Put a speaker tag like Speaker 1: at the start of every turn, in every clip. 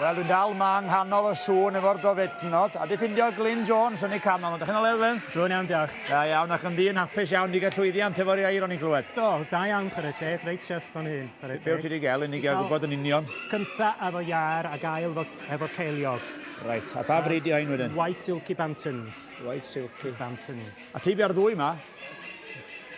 Speaker 1: Wel, dwi'n dal ma yng nghanol y sŵn efo'r gofetnod, a di ffindio Glyn Jones yn ei canol. Ydych chi'n olew, Glyn? Dwi'n iawn, diolch. Da
Speaker 2: iawn, ac yn ddi'n
Speaker 1: hapus iawn di gael llwyddiant efo'r iair o'n i'n glywed. Do, da iawn, chwarae
Speaker 2: teg, reit syrth o'n hyn, chwarae teg. Be ti di gael, unig
Speaker 1: a gwybod yn union? Cynta efo
Speaker 2: iair a gael efo, efo ceiliog. Reit, a pa bryd
Speaker 1: di hyn wedyn? White Silky Bantons.
Speaker 2: White Silky.
Speaker 1: Bantons. A ti
Speaker 2: bia'r ddwy ma?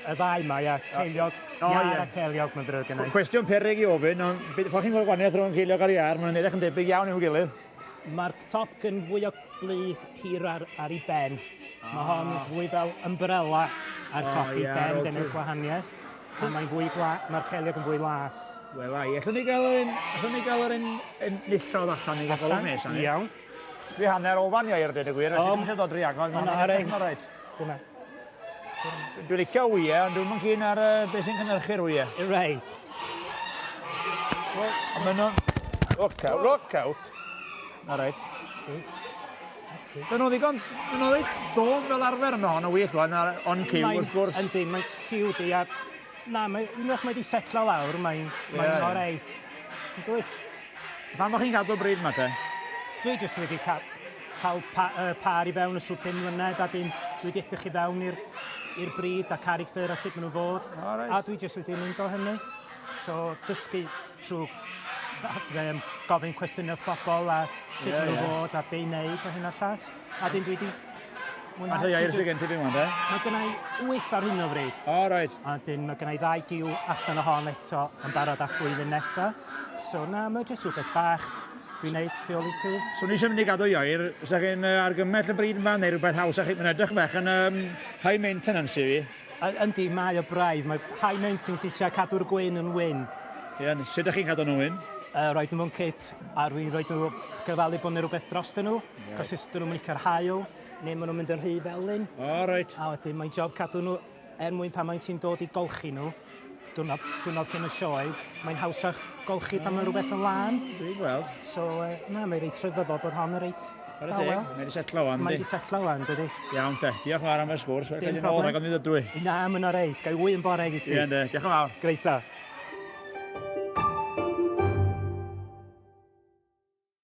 Speaker 1: Y
Speaker 2: ddau mae a ceiliog, oh, iar yeah. a ceiliog, mae'n ddrwg yna. Cwestiwn perig i ofyn,
Speaker 1: ond beth chi'n gweld gwaniaeth rhwng ceiliog ar iar, mae'n edrych yn debyg iawn i'w gilydd. Mae'r top
Speaker 2: yn fwy o blu hir ar, ar ei ben. Ah. Mae hon ah. fwy fel umbrella ar top oh, ei yeah, ben, dyna'r gwahaniaeth. A mae'n fwy gla... mae'r celiog yn fwy las. Wel, ai, allwn ni
Speaker 1: gael yn... allwn ni gael yn... yn nillodd allan i gael golwg nes. Iawn.
Speaker 2: Dwi hanner
Speaker 1: ofan i air, dweud y gwir. O, mae'n siarad o dri agor. Mae'n rhaid. Mae'n rhaid. Dwi'n licio wye, ond dwi'n mynd cyn ar uh, beth sy'n cynnyrchu'r wye. Reit.
Speaker 2: Ond
Speaker 1: maen nhw'n... Look out, look out. Na reit. Dyn nhw ddigon, dyn nhw ddigon dof fel arfer yno, ond y wych o'n on cyw wrth gwrs. Yndi, mae'n cyw di,
Speaker 2: a na, mae, unwaith mae di setlo lawr, mae'n yeah, mae yeah. reit. Dwi'n Pam o'ch chi'n
Speaker 1: gadw'r bryd yma te? Dwi jyst wedi
Speaker 2: ca cael pa uh, pâr i fewn y sŵp pum mlynedd a dyn dwi wedi edrych i fewn i'r i'r bryd a character a sut maen nhw fod. Right. A dwi jyst wedi mynd o hynny. So dysgu trwy um, gofyn cwestiynau wrth bobl a sut yeah, maen nhw yeah. fod a be i wneud a hyn a llall. A dyn dwi di... Mae'n rhai
Speaker 1: air sy'n gen ti fi mwyn, de? Mae gennau
Speaker 2: wyth ar hyn o fryd. O, oh, right. A dyn
Speaker 1: mae gennau ddau
Speaker 2: giw allan o hon eto yn barod at flwyddyn nesa. So na, mae jyst rhywbeth bach dwi'n neud tu ôl i ti. So ni eisiau mynd i gadw i
Speaker 1: oer, sa chi'n uh, argymell y bryd yma neu rhywbeth haws a chi, mae'n edrych bach yn um, high maintenance i fi. Yndi, mae o
Speaker 2: braidd, mae high maintenance i tra cadw'r gwyn yn wyn. Ie, yeah, sut ydych
Speaker 1: chi'n cadw nhw'n wyn? uh, roed nhw mewn cit
Speaker 2: a rwy'n rhoi nhw cyfalu bod yna rhywbeth dros dyn nhw. Cos os dyn nhw'n mynd i cael hael, neu maen nhw'n mynd yn rhy felyn. O, reit. A wedyn
Speaker 1: mae'n job cadw
Speaker 2: nhw er mwyn pan mae'n ti'n dod i golchi nhw, diwrnod, diwrnod cyn y sioe, mae'n hawsach golchi pan mae rhywbeth yn lân. Dwi'n gweld. So,
Speaker 1: uh, na, mae'n
Speaker 2: reit rhyfeddol bod hon yn reit Mae'n deg, mae wedi setlo wan, Mae
Speaker 1: wedi setlo wan, dydy.
Speaker 2: Iawn te, diolch yn fawr
Speaker 1: am y sgwrs, wedi cael
Speaker 2: ei ôl rhag o'n
Speaker 1: ddydw
Speaker 2: i. Na, mae'n
Speaker 1: o reit,
Speaker 2: gael wy yn bore i ti.
Speaker 1: Ie,
Speaker 2: diolch yn fawr.
Speaker 1: Greisa.